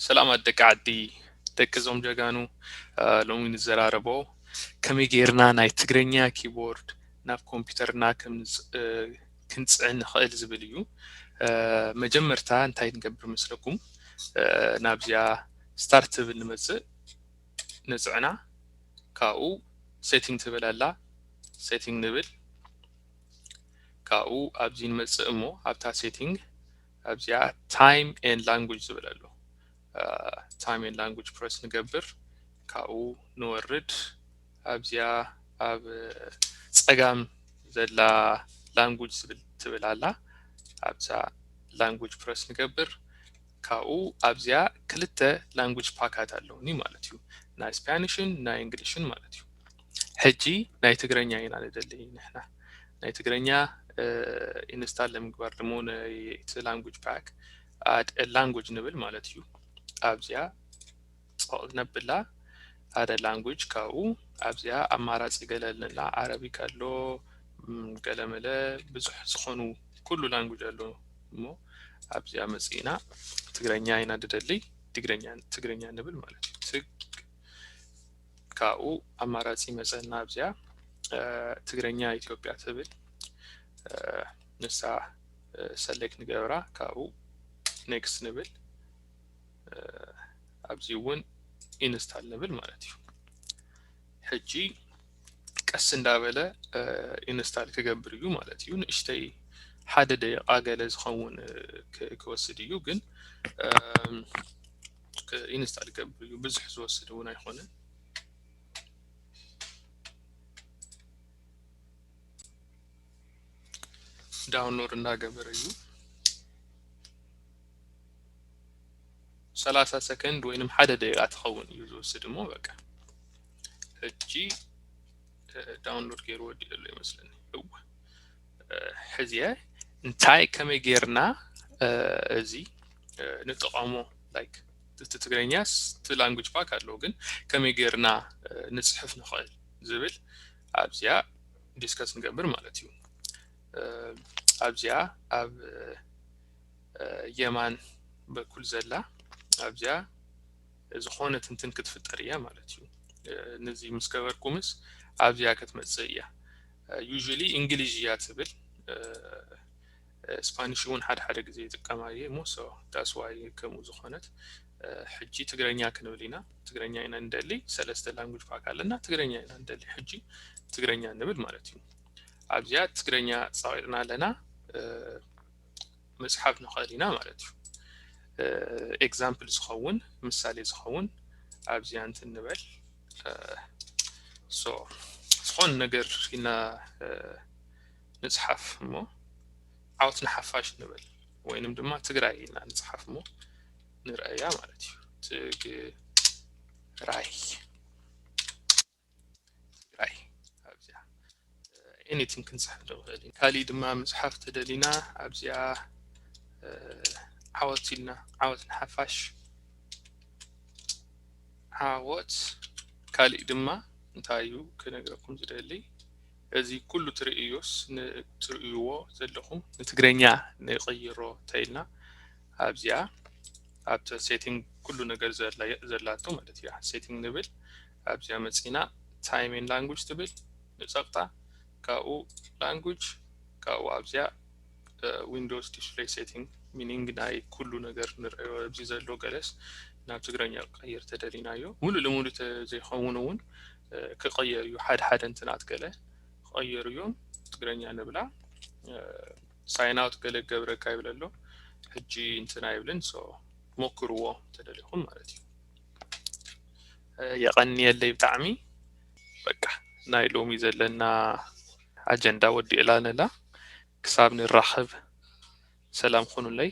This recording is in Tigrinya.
ሰላማት ደቂ ዓዲ ደቂ እዞም ጀጋኑ ሎሚ ንዘራረቦ ከመይ ጌርና ናይ ትግረኛ ኪቦርድ ናብ ኮምፒውተርና ክንፅዕን ንኽእል ዝብል እዩ መጀመርታ እንታይ ንገብር መስለኩም ናብዚኣ ስታርት ትብል ንመፅእ ንፅዕና ካብኡ ሴቲንግ ትብል ኣላ ሴቲንግ ንብል ካብኡ ኣብዚ ንመፅእ እሞ ኣብታ ሴቲንግ ኣብዚኣ ታይም ኤን ላንጉጅ ዝብል ኣሎ ታይም ኤን ላንጉጅ ፕረስ ንገብር ካብኡ ንወርድ ኣብዚኣ ኣብ ፀጋም ዘላ ላንጉጅ ዝብል ትብል ኣላ ኣብዛ ላንጉጅ ፕረስ ንገብር ካብኡ ኣብዚኣ ክልተ ላንጉጅ ፓካት ኣለውኒ ማለት እዩ ናይ ስፓኒሽን ናይ እንግሊሽን ማለት እዩ ሕጂ ናይ ትግረኛ ኢና ንደሊ ንሕና ናይ ትግረኛ ኢንስታል ንምግባር ድሞ ነቲ ላንጉጅ ፓክ ኣድ ላንጉጅ ንብል ማለት እዩ ኣብዚኣ ጸቕ ነብላ ኣደ ላንጉጅ ካብኡ ኣብዚኣ ኣማራጺ ገለልንላ ዓረቢክ ኣሎ ገለመለ ብዙሕ ዝኾኑ ኩሉ ላንጉጅ ኣሎ እሞ ኣብዚኣ መጽእና ትግረኛ ኢና ድደሊ ትግረኛ ትግረኛ ንብል ማለት እዩ ትግ ካብኡ ኣማራጺ መጸና ኣብዚኣ ትግረኛ ኢትዮጵያ ትብል ንሳ ሰሌክት ንገብራ ካብኡ ኔክስት ንብል ኣብዚ እውን ኢንስታል ንብል ማለት እዩ ሕጂ ቀስ እንዳበለ ኢንስታል ክገብር እዩ ማለት እዩ ንእሽተይ ሓደ ደቂቃ ገለ ዝኸውን ክወስድ እዩ ግን ኢንስታል ክገብር እዩ ብዙሕ ዝወስድ እውን ኣይኮነን ዳውንሎድ እንዳገበረ እዩ ሰላሳ ሰከንድ ወይንም ሓደ ደቂቃ ትኸውን እዩ ዝወስድ እሞ በቃ ሕጂ ዳውንሎድ ገይሩ ወዲእ ዘሎ ይመስለኒ እወ ሕዚየ እንታይ ከመይ ጌርና እዚ ንጠቐሙ ላይክ እቲ ትግርኛስ እቲ ላንጉጅ ባክ ኣለዎ ግን ከመይ ጌርና ንፅሕፍ ንኽእል ዝብል ኣብዚያ ዲስከስ ንገብር ማለት እዩ ኣብዚያ ኣብ የማን በኩል ዘላ ኣብዚያ ዝኾነ ትንትን ክትፍጠር እያ ማለት እዩ ነዚ ምስ ገበርኩምስ ኣብዚያ ክትመፅእ እያ ዩዥሊ እንግሊዥ እያ ትብል ስፓኒሽ እውን ሓደ ሓደ ግዜ ይጥቀማ እየ እሞ ሶ ዳስ ዋይ ከምኡ ዝኾነት ሕጂ ትግረኛ ክንብል ኢና ትግረኛ ኢና ንደሊ ሰለስተ ላንጉጅ ፓክ ኣለና ትግረኛ ኢና ንደሊ ሕጂ ትግረኛ ንብል ማለት እዩ ኣብዚኣ ትግረኛ ፃቂጥና ኣለና ምጽሓፍ ንኽእል ኢና ማለት እዩ ኤግዛምፕል ዝኸውን ምሳሌ ዝኸውን ኣብዚኣ እንትን ንበል ዝኾን ነገር ኢና ንጽሓፍ እሞ ዓወት ንሓፋሽ ንበል ወይንም ድማ ትግራይ ኢና ንጽሓፍ እሞ ንርአያ ማለት እዩ ትግራይ ትግራይ ኣብዚኣ ኤኒቲንግ ክንፅሕፍ ዶ ንኽእል ካሊእ ድማ ምፅሓፍ ተደሊና ኣብዚኣ ዓወት ኢልና ዓወት ንሓፋሽ ዓወት ካሊእ ድማ እንታይ እዩ ክነግረኩም ዝደሊ እዚ ኩሉ ትርእዩስ ንትርእይዎ ዘለኹም ንትግረኛ ንቕይሮ ተይልና ኣብዚኣ ኣብቲ ሴቲንግ ኩሉ ነገር ዘላቶ ማለት እያ ሴቲንግ ንብል ኣብዚኣ መጺእና ታይም ኤንድ ላንጉጅ ትብል ንጸቕጣ ካብኡ ላንጉጅ ካብኡ ኣብዚኣ ዊንዶውስ ዲስፕሌይ ሴቲንግ ሚኒንግ ናይ ኩሉ ነገር ንርእዮ ኣብዚ ዘሎ ገለስ ናብ ትግረኛ ክቐይር ተደሊናዮ ሙሉእ ልሙሉ ተዘይኸውን እውን ክቐየር እዩ ሓደ ሓደ እንትናት ገለ ክቐየሩ እዮም ትግረኛ ንብላ ሳይን ኣውት ገለ ገብረካ ይብለ ኣሎ ሕጂ እንትና ይብልን ሶ ሞክርዎ ተደሊኹም ማለት እዩ የቐንየለይ ብጣዕሚ በቃ ናይ ሎሚ ዘለና ኣጀንዳ ወዲእላ ነላ ክሳብ ንራኸብ ሰላም ኹኑለይ